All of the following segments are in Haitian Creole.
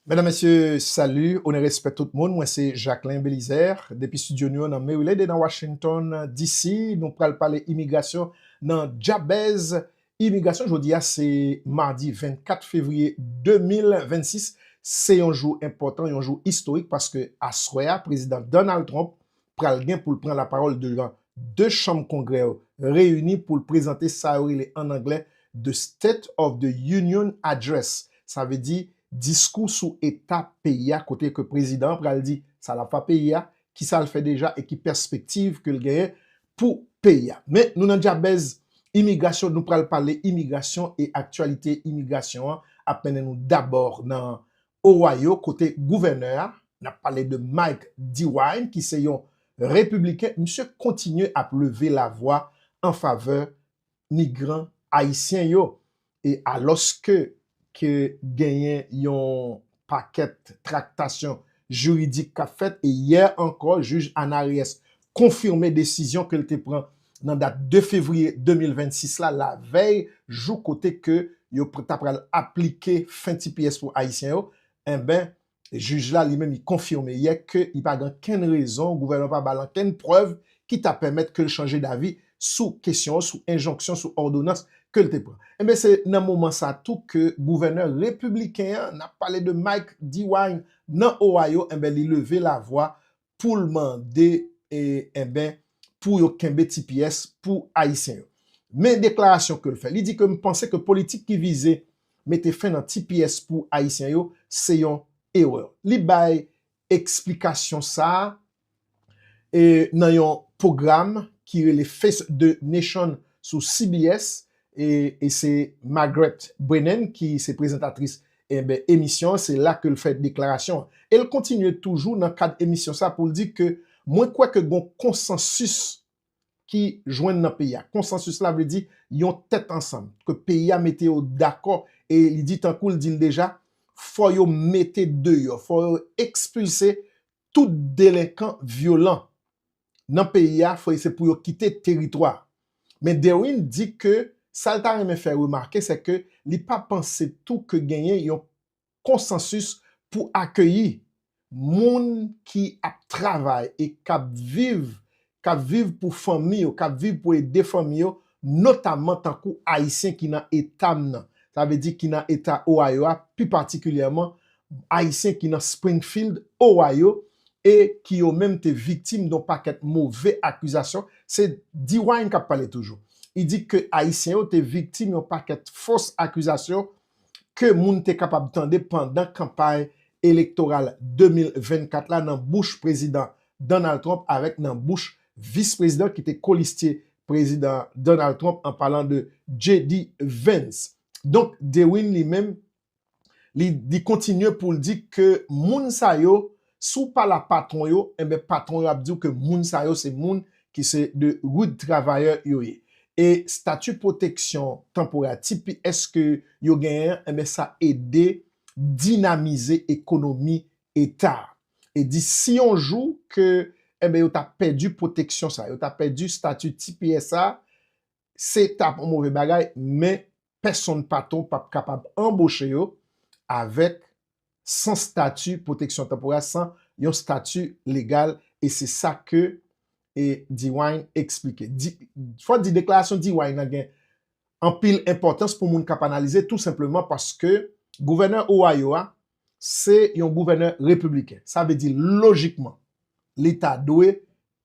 Medam mesye salu onè respè tout moun mwen se Jacquelin Belizaire depi studio nou yo nan Merilede nan Washington DC nou pral pale imigrasyon nan Djabèz imigrasyon jodia se mardi 24 fevriye 2026 se yon jou enpòtan yon jou istorik paske aswè a prezidan Donald Trump pral gen pou l pran lapawòl devan 2 chanm kongrè yo reyini pou l prezante sa yo rele an anglè The State of the Union Address, sa vle di diskou sou eta peyi a kote ke prezidan an pral di sa l ap fa peyi a, ki sa l fè deja e ki pèspektiv ke l genyen pou peyi a. Men, nou nan dyabèz imigrasyon, nou pral pale imigrasyon e aktyalite imigrasyon an ap mennen nou dabò nan Ohio kote gouvènè a, n ap pale de Mike DeWine ki se yon repibliken, misye kontinye ap leve lavwa an favè migran ayisyen yo e alòske ke genyen yon pakèt traktasyon jiridik k ap fèt e yè ankò jij Anna Reyes konfime desizyon ke l te pran nan dat 2 fevriye 2026 la lavèy jou kote ke yo ta pral aplike fen tps pou Ayisyen yo, enben jij la li menm li konfime yè ke li pa gen ankenn rezon, gouvènman pa ba l ankenn prèv ki ta pèmèt ke l chanje davi sou kesyon an, sou enjonksyon, sou òdonans ke l te pran. Enben se nan moman sa tou ke gouvènè repibliken an, n ap pale de Mike DeWine nan Ohio, enben li leve lavwa poul mande enben pou yo kenbe tps pou ayisyen yo. Men deklarasyon kel fè, li di ke m panse ke politik ki vize mete fen nan tps pou ayisyen yo se yon erè. Li bay eksplikasyon sa a nan yon pwogram ki rele Face the Nation sou CBS E se Margaret Brennan ki se prezantatris emisyon an, se la ke l fè deklarasyon an. E l kontinye toujou nan kad emisyon sa pou l di ke mwen kwè ke gon konsansis ki jwenn nan peyi a. Konsansis la vle di yon tèt ansanm, ke peyi a mete yo dakò e li di tankou l di l deja, fò yo mete deyò, fò yo ekspilse tout delenkan vyolan nan peyi a fòy se pou yo kite teritwa. Men Derwin di ke sa l ta renmen fè remake se ke li pa panse tou ke genyen yon konsansis pou akeyi moun ki ap travay e k ap viv, k ap viv pou fanmi yo, k ap viv pou ede fanmi yo, notamman tankou Ayisyen ki nan eta m nan, sa vle di ki nan eta Ohio a, pi patikilyèman Ayisyen ki nan Springfield, Ohio, e ki yo menm te viktim don pakèt move akizasyon, se DeWine k ap pale toujou. Li di ke Ayisyen yo te viktim yon pakèt fos akizasyon ke moun te kapab tande pandan kanpay elektoral 2024 la nan bouch Prezidan Donald Trump avèk nan bouch Vis Prezidan ki te kolistye Prezidan Donald Trump an palan de JD Vance. Donk DeWine li menm li kontinye poul di ke moun sa yo si w pa la patwon yo enben patwon yo ap di w ke moun sa yo se moun ki se de rud travayè yo ye e stati pwoteksyon tanporè tps ke yo genyen an enben sa ede dinamize ekonomi eta a e di si yon jou ke enben yo ta pèdi pwoteksyon sa yo ta pèdi stati tps sa se tap yon move bagay men pèsonn patwon pap kapab anboche yo avèk san stati pwoteksyon tanporè san yon stati legal e se sa ke e Dewine eksplike. Fò di deklarasyon Dewine nan gen anpil enpòtans pou moun kap analize tou senpleman paske gouvènè Ohio a se yon gouvènè repibliken sa vle di lojikman li ta dwe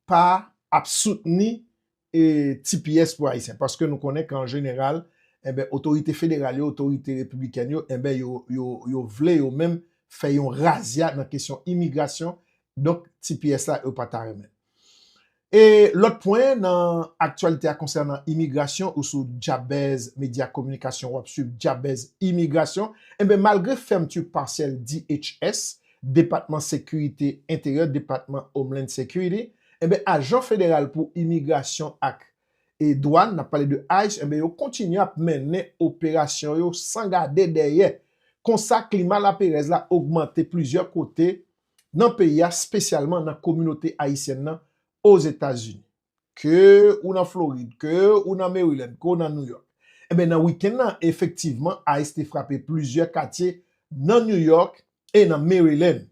pa ap soutni e ti pyès pou Ayisyen paske nou konnen ke an jeneral enben otorite federal yo, otorite repiblikèn yo enben yo vle yo menm fè yon razya nan kesyon imigrasyon donk ti pyès la yo pa ta renmen. E lòt pwen nan aktyalite a konsènan imigrasyon ou sou Jabez Media Kominikasyon w ap swiv Jabez Imigrasyon enben malgre fèmti pasyèl DHS, Depatman Sekirite Enteryè, Department Homeland Security, Enben ajan federal pou imigrasyon ak e dwàn, nap pale de ice, enben yo kontinye ap mennen operasyon yo san gade dèyè. Konsa klima laperèz la ogmante plizyè kote nan peyi a spesyalman nan kominote ayisyèn nan Ozetazini. Ke ou nan Florid, ke ou nan Maryland, ke ou nan New York. Enben nan weekend nan efektivman ice te frape plizyè katye nan New York e nan Maryland.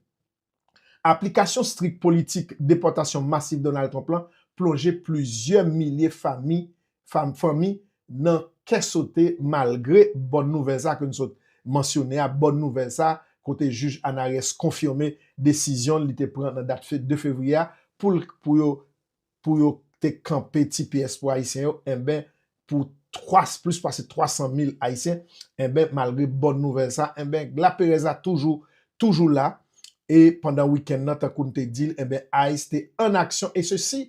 Aplikasyon strik politik depòtasyon masif Donald Trump la plonje plizyè milye fami fanmi nan kè sote malgre bòn nouvèl sa ke n sot mansyone a, bòn nouvèl sa kote jij Anarès konfime desizyon li te pran nan dat 2 fevriye a pou l pou yo pou yo te kanpe ti pyès pou Ayisyen yo enben pou plis pase 300 mil Ayisyen enben malgre bòn nouvèl sa enben laperèz la toujou toujou la e pandan wikenn nan tankou n te di l enben ice te an aksyon e se si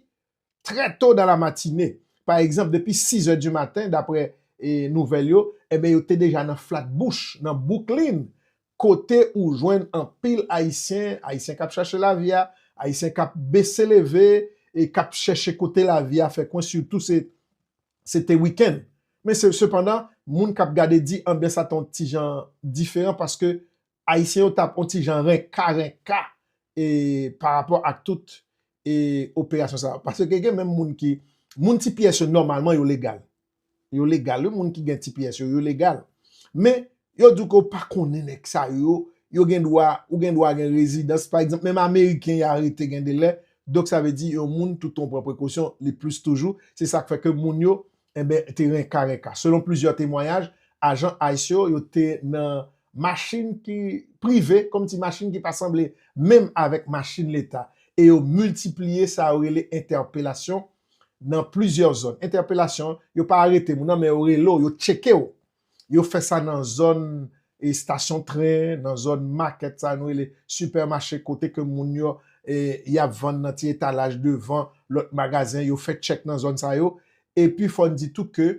trè to dan la matine pa egzanp depi 6 è di maten daprè nouvèl yo enben yo te deja nan Flatbush nan Bwouklin Kote ou jwenn anpil Ayisyen, Ayisyen k ap chache lavi a, Ayisyen k ap bese leve e k ap chèche kote lavi a fè kwen sitou se se te wikenn. Men se sepandan, moun k ap gade di anbyans la ta yon ti jan diferan paske Ayisyen yo t ap yon ti jan renka renka e pa rapò ak tout e operasyon sa yo. Paske gen menm moun ki moun ti pyès yo nòmalman yo legal. Yo legal wi moun ki gen tps yo, yo legal. Men yo diw ke ou pa konnen nèg sa yo, yo gen dwa, ou gen dwa gen rezidans pa egzanp menm ameriken yo arete gen de lè, donk sa vle di yon moun toutan ou pran prekosyon li plis toujou, se sak fè ke moun yo enben te renka renka. Selon plizyè temwayaj, ajan ice yo, yo te nan machin ki prive, kòm ti machin ki pa sanble menm avèk machin leta e yo miltipliye sa yo rele entèpelasyon nan plizyè zòn. Entèpelasyon, yo pa arete moun nan men yo rele w, yo tcheke w. Yo fè sa nan zòn estasyon tren, nan zòn makèt sa nou rele sipèmache kote ke moun yo y ap vann nan ti etalaj devan lòt magazen, yo fè tchèk nan zòn sa yo. Epi fò n di tou ke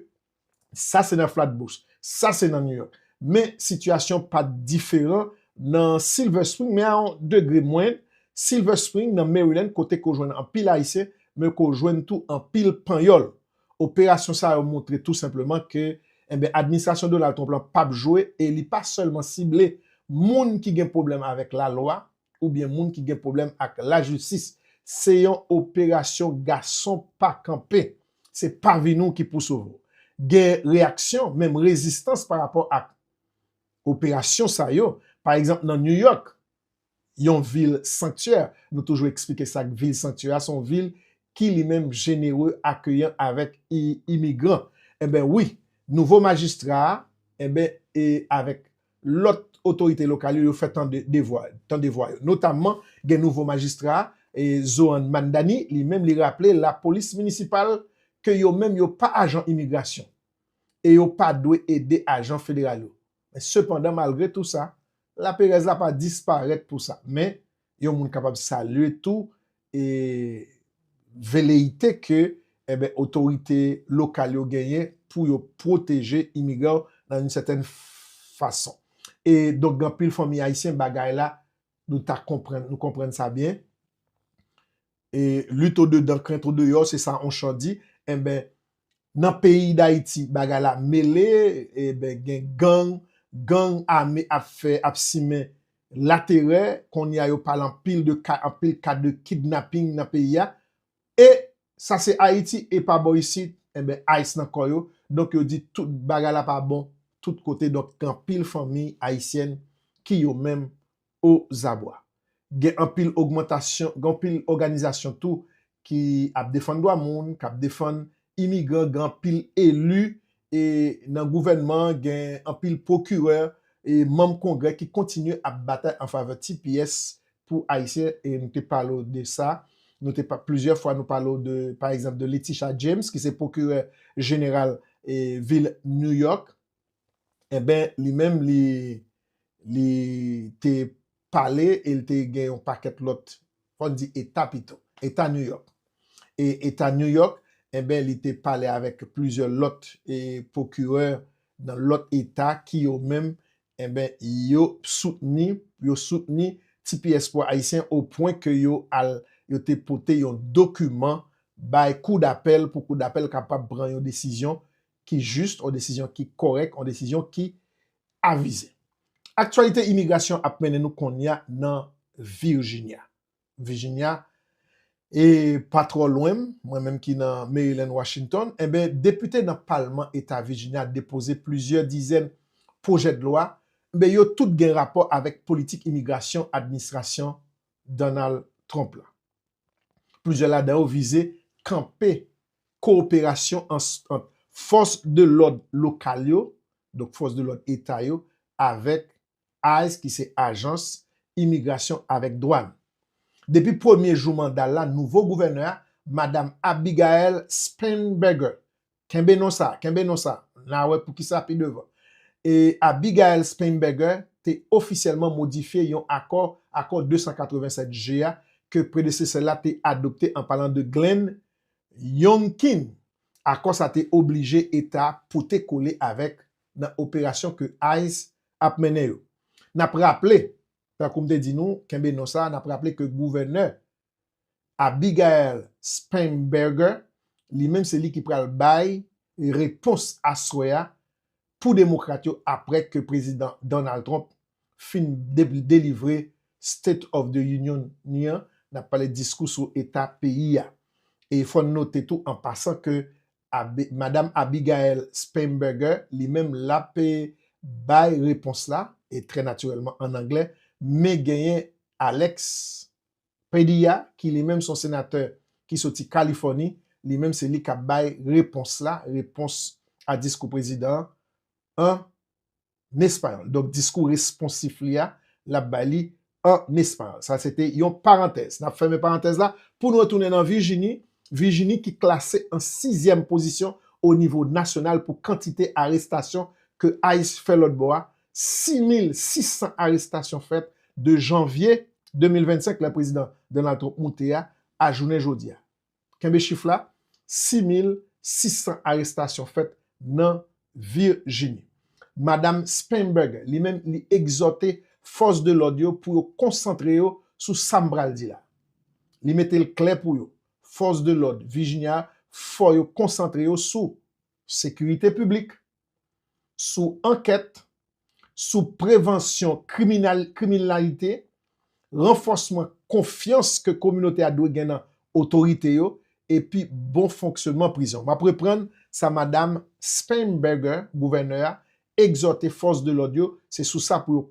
Sa se nan Flatbush. Sa se nan New York. Men sitiyasyon pa diferan nan Silver Spring men a yon degre mwen. Silver Spring nan Maryland kote ke w jwenn anpil Ayisyen men ke w jwenn tou anpil Panyòl. Operasyon sa yo montre tou senpleman ke enben administrasyon Donald Trump lan pap jwe e li pa sèlman sible moun ki gen pwoblèm avèk lalwa oubyen moun ki gen pwoblèm ak lajistis. Se yon operasyon gason pa kanpe. Se pa vi nou ki pou sove w. Gen reyaksyon, menm rezistans pa rapò ak operasyon sa yo. Pa egzanp nan New York, yon vil sanktyè, nou toujou eksplike sa k vil sanktyè a, se yon vil ki li menm jenere, akeyan avèk imigran. Enben wi, nouvo majistra a, enben e avèk Lòt otorite lokal yo yo fè tande devwa tande vwa yo. Notamman gen nouvo majistra a, Zohan Mandani, li menm li raple lapolis minisipal ke yo menm yo pa ajan imigrasyon e yo pa dwe ede ajan federal yo. Men sepandan malgre tou sa, laperèz la pa disparèt pou sa. Men Yon moun kapab salye tou e veleyite ke enben otorite lokal yo genyen pou yo pwoteje imigran yo nan yon sètèn fason. E donk gen anpil fanmi ayisyen bagay la nou ta konprann, nou konprann sa byen. e lit o dedan krent o deyò se sa on chan di enben nan peyi dayiti bagay la mele enben gen gang gang ame ap fè ap simen laterè kounye a yo pale anpil de ka anpil ka de kidnaping nan peyi a e sa se ayiti e pa bò isit enben ice nan kò yo donk yo di tout bagay la pa bon tout kote donk gen anpil fanmiy ayisyèn ki yo menm ozabwa. Gen anpil ogmantasyon, gen anpil òganizasyon tou ki ap defann dwa moun, k ap defann imigran, gen anpil eli e nan gouvènman an, gen anpil pwokirè e manm kongrè ki kontinye ap batay an favè tps pou Ayisyen e nou te pale w de sa, nou te pa, plizyè fwa nou pale w de, pa egzanp, de Letitia James ki se pwokirè jeneral e vil New York. Enben, li menm li, li te pale e li te gen yon pakèt lòt, fò n di eta pito, eta New York. E eta New York, enben li te pale avèk plizyè lòt e pwokirè nan lòt eta ki yo menm, enben yo soutni, yo soutni tps pou Ayisyen o pwen ke yo al, yo te pote yon dokiman bay kou dapèl pou kou dapèl kapab pran yon desizyon ki jis, yon desizyon ki korèk, yon desizyon ki avize. Aktyalite imigrasyon ap mennen nou konnya nan Virjinya. Virjinya e pa twò lwen m, mwen menm ki nan Maryland, Washington, enben depite nan palman eta Virjinya depoze plizyè dizèn pwojèdlwa, enben yo tout gen rapò avèk politik imigrasyon administrasyon Donald Trump la. Plizyè ladan yo vize kanpe kowoperasyon ant fòs de lòd lokal yo, donk fòs de lòd eta yo, avèk ice ki se ajans imigrasyon avèk dwàn. Depi premye jou manda l la, nouvo gouvènè a, Madam Abigail Spanberger, kenbe non sa a, kenbe non sa a, n a wè poukisa pi devan, e Abigail Spanberger te ofisyèlman modifye yon akò, akò 287 G a, ke predesesè l la te adopte an palan de Glenn Yongkin, akò sa te oblije eta pote kole avèk nan operasyon ke ice ap mennen yo. N ap raple, tankou m te di nou, kenbe non sa, n ap raple ke gouvènè Abigail Spanberger, li menm se li ki pral bay repons aswè a pou Demokrat yo aprè ke Prezidan Donald Trump fin delivre State of the Union ni an, n ap pale diskou sou eta peyi a. E fò n note tou an pasan ke Madam Abigail Spanberger li menm l ap bay repons la, e trè natirèlman an anglè, men genyen Alex Padilla ki li menm son senatè ki soti Kalifòni, li menm se li kap bay repons la, repons a diskou prezidan an an espayòl. Donk diskou responsif li a, lap bay li an espayòl. Sa se te yon parantèz. Nap fèmen parantèz la pou nou retounen nan Vijini, Vijini ki klase an sizyèm pozisyon o nivo nasyonal pou kantite arestasyon ke ice fè lòtbò a 6600 arestasyon fèt de janvye 2025 lè prezidan Donald Trump moute a, a jounen jodi a. Kenbe chif la, 6600 arestasyon fèt nan Virjini. Madam Spanberg li menm li egzòte fòs de lòd yo pou yo konsantre yo sou sa m pral di la. Li mete l klè pou yo, fòs de lòd Virjini a fò yo konsantre yo sou, sekirite piblik, sou ankèt, sou prevansyon kriminalite, ranfòsman konfyans ke kominote a dwe gen nan otorite yo, epi bon fonksyonman prizon. M ap reprann sa Madam Spanberger, Gouvènè a, egzòte fòs de lòd yo, se sou sa pou yo.